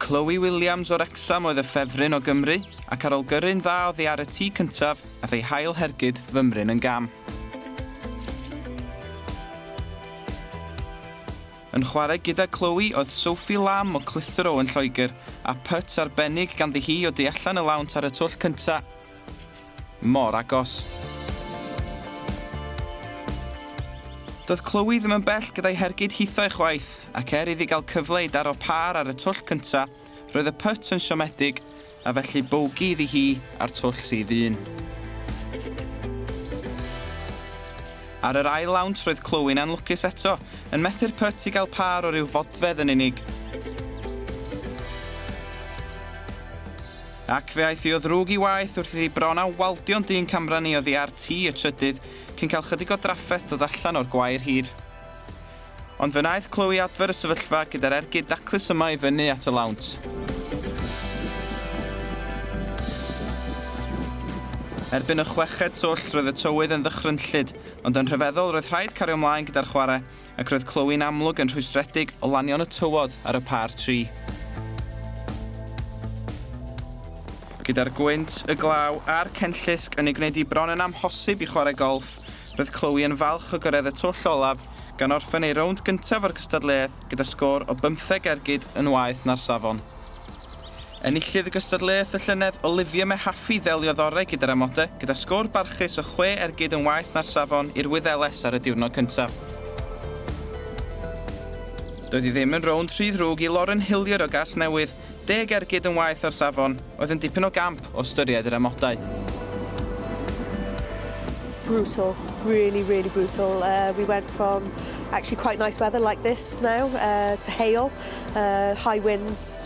Chloe Williams o Wrecsam oedd y ffefryn o Gymru, ac ar ol gyrru'n dda oddi ar y tee cyntaf, ath ei hail hergyd fymryn yn gam. Yn chwarae gyda Chloe oedd Sophie Lamb o Clitheroe yn Lloegr, a putt arbennig ganddi hi o du allan y lawnt ar y twll cyntaf. Mor agos. Doedd Chloe ddim yn bell gyda'i hergyd hithau chwaith, ac er iddi gael cyfle i daro pâr ar y twll cyntaf, roedd y pyt yn siomedig, a felly bogey iddi hi ar twll rhif un. Ar yr ail lawnt roedd Chloe'n anlwcus eto, yn methu'r pyt i gael pâr o ryw fodfedd yn unig. Ac fe aeth hi o ddrwg i waeth wrth iddi bron â waldio'n dyn camran i oddi ar tŷ y trydydd cyn cael chydig o drafferth dod allan o'r gwair hir. Ond fe wnaeth Chloe adfer y sefyllfa gyda'r ergyd daclus yma i fyny at y lawnt. Erbyn y chweched twll roedd y tywydd yn ddychrynllyd, ond yn rhyfeddol roedd rhaid cario mlaen gyda'r chwarae, Ac roedd clywyn amlwg yn rhwystredig o lanio'n y tywod ar y pâr tri. Gyda'r gwynt, y glaw a'r cenllysg yn ei gwneud hi bron yn amhosib i chwarae golff, roedd Chloe yn falch o gyrraedd y twll olaf, gan orffen ei rownd gyntaf o'r cystadleuaeth gyda sgôr o bymtheg ergyd yn waeth na'r safon. Enillydd y gystadleuaeth y llynedd, Olivia Mehaffey ddeliodd orau gyda'r amodau, gyda sgôr barchus o chwe ergyd yn waeth na'r safon i'r Wyddeles ar y diwrnod cyntaf. Doedd hi ddim yn rownd rhy ddrwg i Lauren Hilliard o Gasnewydd, deg ergyd yn waeth o'r safon, oedd yn dipyn o gamp o ystyried yr amodau. brutal, really, really brutal. Uh, we went from actually quite nice weather like this now uh, to hail, uh, high winds,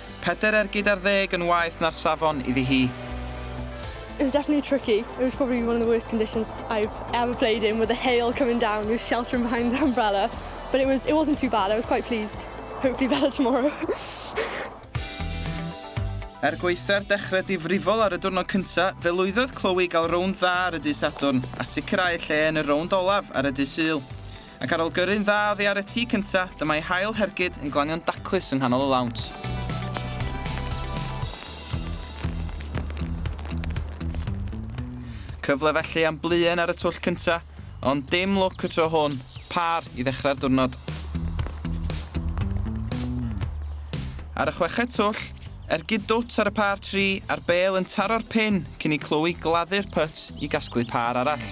Pedair ergyd ar ddeg yn waeth na'r safon, iddi hi. It was definitely tricky, it was probably one of the worst conditions I've ever played in with the hail coming down, you were sheltering behind the umbrella but it was, it wasn't too bad, I was quite pleased, hopefully better tomorrow. Er gwaetha'r dechrau difrifol ar y diwrnod cyntaf, fe lwyddodd Chloe i gael rownd dda ar y dydd Sadwrn a sicrhau lle yn y rownd olaf ar y dydd Sul. Ac ar ol gyrru'n dda oddi ar y tŷ cynta, dyma ei hail hergyd yn glanio'n daclus yng nghanol y lawnt. Cyfle felly am bluen ar y twll cynta, ond dim lwc y tro hwn, pâr i ddechrau'r diwrnod. Ar y chweched twll, ergyd dwt ar y pâr tri a'r bêl yn taro'r pin cyn i Chloe gladdu'r pyt i gasglu pâr arall.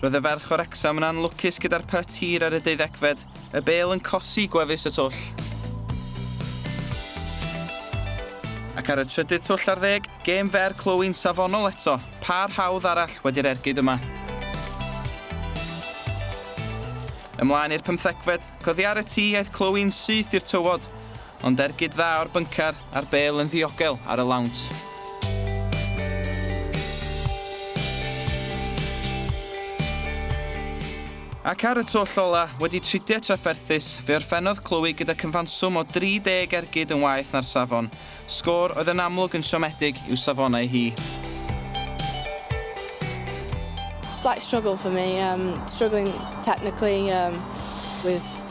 Roedd y ferch o Wrecsam yn anlwcus gyda'r pyt hir ar y deuddegfed, y bêl yn cosi gwefus y twll. Ac ar y trydydd twll ar ddeg, gêm fer clywyn safonol eto, pâr hawdd arall wedi'r ergyd yma. Ymlaen i'r pymthegfed, coddi ar y tŷ aeth clywyn syth i'r tywod, Ond ergyd dda o'r byncar, a'r bêl yn ddiogel ar y lawnt. Ac ar y twll ola, wedi tridiau trafferthus, fe orffennodd Chloe gyda cyfanswm o 30 ergyd yn waeth na'r safon, sgôr oedd yn amlwg yn siomedig i'w safonau hi. Slight struggle for me, um, struggling technically um, with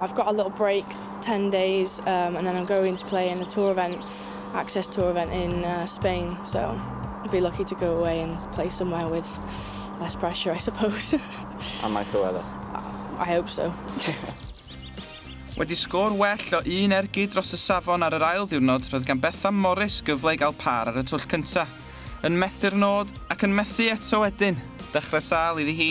I've got a little break, ten days, um, and then I'm going to play in a tour event, access tour event in uh, Spain. So I'd be lucky to go away and play somewhere with less pressure, I suppose. Am I Llywelyn? I hope so. Wedi sgôr well o un ergyd dros y safon ar yr ail ddiwrnod, roedd gan Bethan Morris gyfle i gael par ar y twll cyntaf. Yn methu'r nod ac yn methu eto wedyn, dechrau sal iddi hi.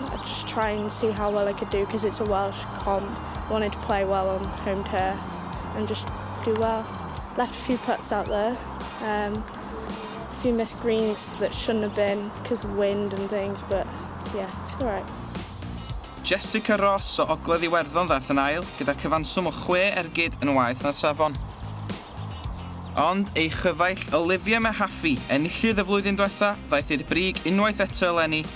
I'd just try and see how well I could do cos it's a Welsh comp. Wanted to play well on home turf and just do well. Left a few putts out there erm a few missed greens that shouldn't have been cos of wind and things but yeah it's alright. Jessica Ross o Ogledd Iwerddon ddaeth yn ail gyda cyfanswm o chwe ergyd yn waeth na'r safon. Ond ei chyfaill Olivia Mehaffey, enillydd y flwyddyn dwetha, ddaeth i'r brig unwaith eto eleni